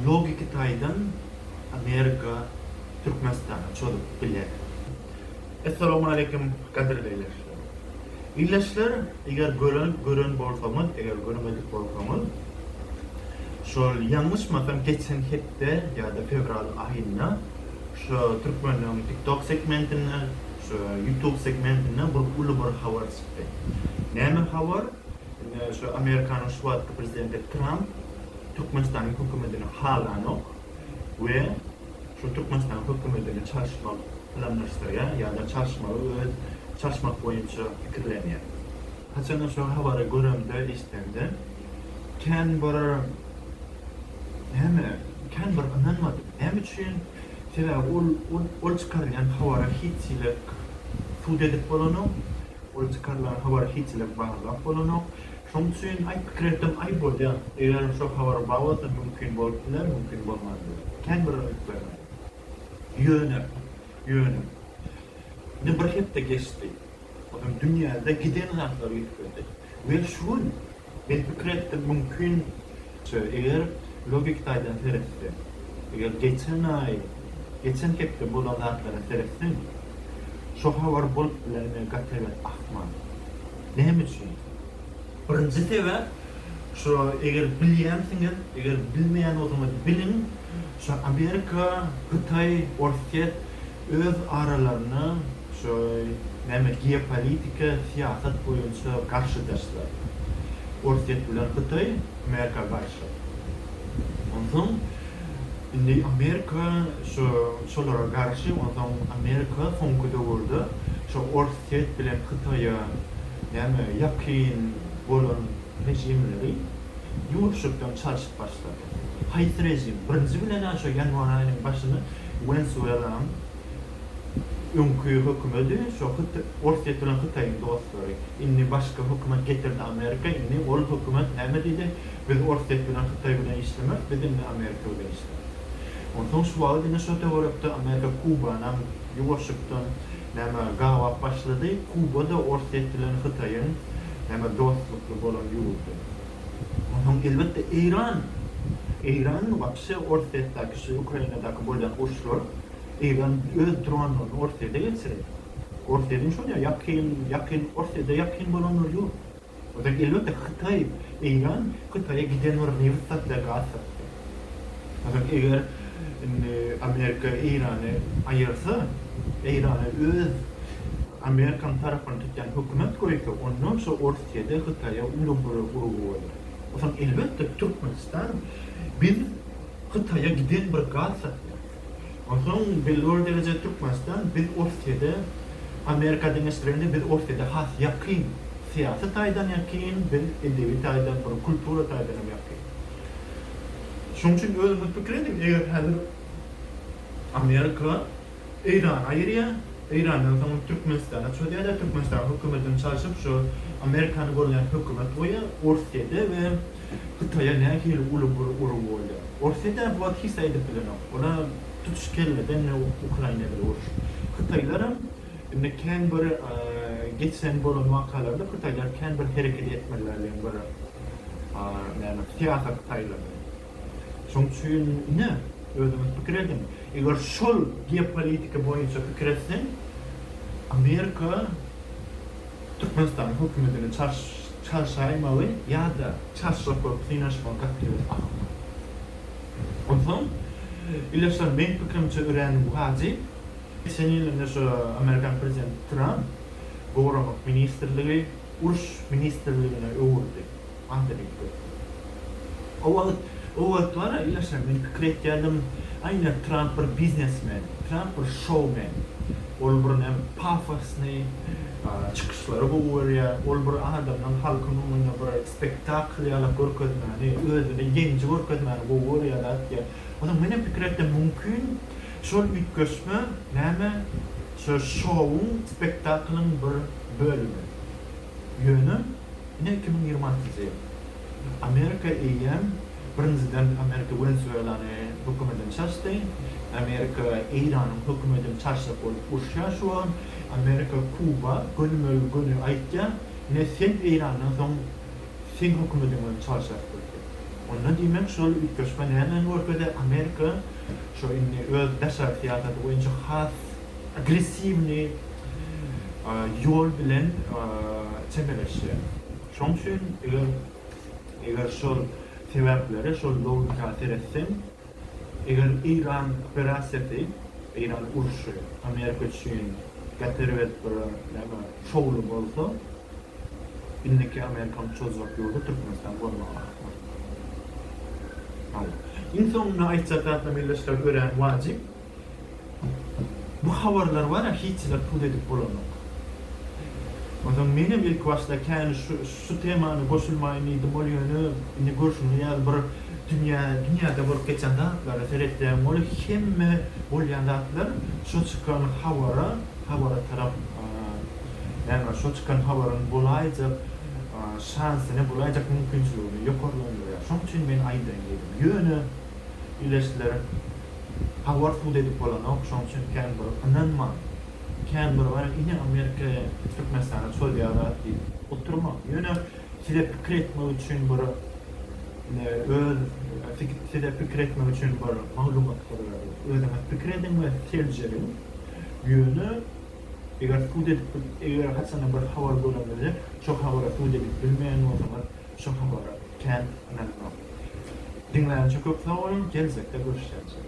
logiki taýdan Amerika Türkmenistana çozup biler. Essalawmaleýkim gadyrly ildeşler. Ildeşler eger gören gören bolsaňyz eger görmedik bolsaňyz şol ýalňyşmasam geçen hepde ýa-da fewral aýynda şu türkmenleň tiktok segmentinde şu ýutub segmentinde bir uly bir habar çykdy. Näme habar? Indi şu Amerikanyň şu wagtky prezidenti Tramp Türkmenistanyň hökümetini halanok we şu Türkmenistanyň hökümetini çalyşmak planlaşdyrýar ýa-da çalyşmagy öz çalyşmak boýunça pikirlenýär. Haçanda şu habary göremde, eşidemde kän bir näme, kän bir ynanmadym. Näme üçin? Sebäbi ol ol çykarylýan habara hiç hili sud edip bolanok. Ol çykarylan habary hiç-le barlap bolanok. Şoň üçin, aý, pikir etdim, aý, bolýar. Egerem şo habar bar bolsa, mümkin bolup biler, mümkin bolman biler. Kän bir üns bermedim. Ýöne, ýöne. Ine, bir hepde geçdi. Onuň dünýäde giden zatlary ýüzüp geldi. We şu gün Men pikir etdim, mümkin, çä, eger logiki taýdan seretseň, eger geçen aý, geçen hepde bolan zatlara seretseň, şo habar bolup bilermi, gaty ebet akman. Näme üçin? Birinji sebäp, şo eger bilýänsiňiz, eger bilmeýän bolsaňyz biliň, şo Amerika, Hytaý, Orsýet, öz aralarynda şu näme geopolitika syýasat boýunça garşydaşlar. Orsýet bilen Hytaý Amerika garşy. Onsoň indi Amerika şu şolara garşy onsoň Amerika soňky döwürde şu Orsýet bilen Hytaýa näme ýakyn bolan režimleri ýuwaşjakdan çalşyp başlady. Haýsy režim? Birinji bilen-ä şu ýanwar aýynyň başyny Wenesuelanyň öňki hökümedi şo Orsýet bilen Hytaýyň dostlary. Indi başga hökümet getirdi Amerika indi ol hökümet näme diýdi biz Orsýet bilen Hytaý bilen işlemeris biz indi Amerika bilen işleris. Onsoň şu wagyt indi şo töwerekde Amerika Kubanam ýuwaşykdan näme gabap başlady Kuba da Orsýet bilen Hytaýyň näme dostlukly bolan ýurdy. Ondan soň elbetde Eýran. Eýran wapşe Orsýetdäki şu Ukrainadaky bolýan uruşlar Eýran öz dronlaryny Orsýete geçirer. Orsýetiň şol ýa ýakyn ýakyn Orsýete ýakyn bolanlary ýok. Ozal elbetde Hytaý Eýran Hytaýa giden bir nebit satýar gaz satýar. Ozal eger indi Amerika Eýrany aýyrsa Eýrana öz Amerikanyň tarabyny tutýan hökümet goýsa ondan şo Orsyýede Hytaýa uýrun bolar guruby bolar. O soň elbetde Türkmenistan biz Hytaýa giden bir gaz satýas. O soň belli bir derejede Türkmenistan biz Orsyýede Amerika deňeşdirende biz Orsyýede has ýakyn syýasy taýdan ýakyn biz edebi taýdan bir kultura taýdan hem ýakyn. Şoň üçin özüňiz pikir ediň eger häzir Amerika Eýrana aýyrýar, Eýrandan soň Türkmenistana çözýärler, Türkmenistanyň hökümetini çalşyp şu Amerikany golaýan hökümet goýýar, Orsýede we Hytaýa nähili uly bir urgy bolýar. Orsýede bu wagt hiç zat edip bilenok, olar tutuş kelleden indi Ukraina bilen uruşyp. Hytaýlaram indi kän bir geçen bolan wakalarda Hytaýlar kän bir hereket etmediler diýen bir näme syýasat taýlady. Şoň üçin ine, özüňiz pikir ediň, eger şol geopolitika boýunça pikir etseň, Amerika Türkmenistanyň hökümetini çarşaýmagy ýa-da çarşyrak bolup synaşmagy gaty tüýs ahyrka. Onsoň, ildeşler, meň pikirimçe örän wajyp, geçen ýyl indi şu amerikan prezidenti Tramp Goranmak ministrligi uruş ministrligine öwürdi. Anda bir köpri. O wagt, o wagt wara ýaşan men pikir etýärdim, aýna Tramp bir biznesmen, Tramp bir şoumen. Ol bir näme pafosny çykyşlary gowy görýär, ol bir adamdan halkyň öňünde bir spektakl ýaly görkezmäni, özüni ýeňiji görkezmäni gowy görýär zat diýýä. Onsoň menem pikir etdim, mümkin şol üýtgeşme näme, şo şouň, spektaklyň bir bölümi. Ýöne, ine, iki müň ýigrimi altynjy ýyl. Amerika eýýäm, birinjiden, Amerika Wenesuelany hökümeden çaşdy. Amerika Eýranyň hökümedini çaşjak bolup urşýar şu wagt. Amerika Kuba gönümel göni aýtýar, Ine, sen Eýrandan soň seň hökümediň bilen çalşarys biz diýip. Onda, diýmek, şol üýtgeşme nämäni görkezýär? Amerika şu indi öz daşary syýasaty boýunça has. agressiwnyý ýol bilen çemeleşýär. Şoň üçin eger eger şol sebäplere şol logika seretseň, eger Eýran operasiýasy, Eýran urşy Amerika üçin gep erbet bir näme şowly bolsa, indiki Amerikanyň çozjak ýoly Türkmenistan bolmaga haklar. Hal. Iň soňunda aýtjak zatym ildeşler örän wajyp. Bu habarlar bar ya hiçler pul edip bolanok. Onsoň menem ilki başda kän şu temany goşulmaýyn diýdim ol ýöne indi görşüňiz ýaly bir dünýä dünýäde bolup geçen zatlara seretseň ol hemme bolýan zatlar şo çykan habara habara tarap näme şo çykan habaryň bolaýjak şansyny bolaýjak mümkinçiligini ýokarlandyrýar şoň üçin men aýdaýyn diýdim ýöne ileşdiler Howard hut edip bolanok, şoň üçin kän bir ynanma. Kän bir bar, ine Amerika Türkmenistana çozýar-a diýip oturma. Ýöne size pikir etmek üçin bir öz size pikir etmek üçin bir maglumatlary özüňiz pikir ediň we seljeriň. Ýöne eger hut edip eger haçanda bir habar göreňizde şo habara hut edip bilmeýän bolsaňyz şo habara kän ynanmaň. Diňlänçe köp sag boluň, geljekde görüşýäs.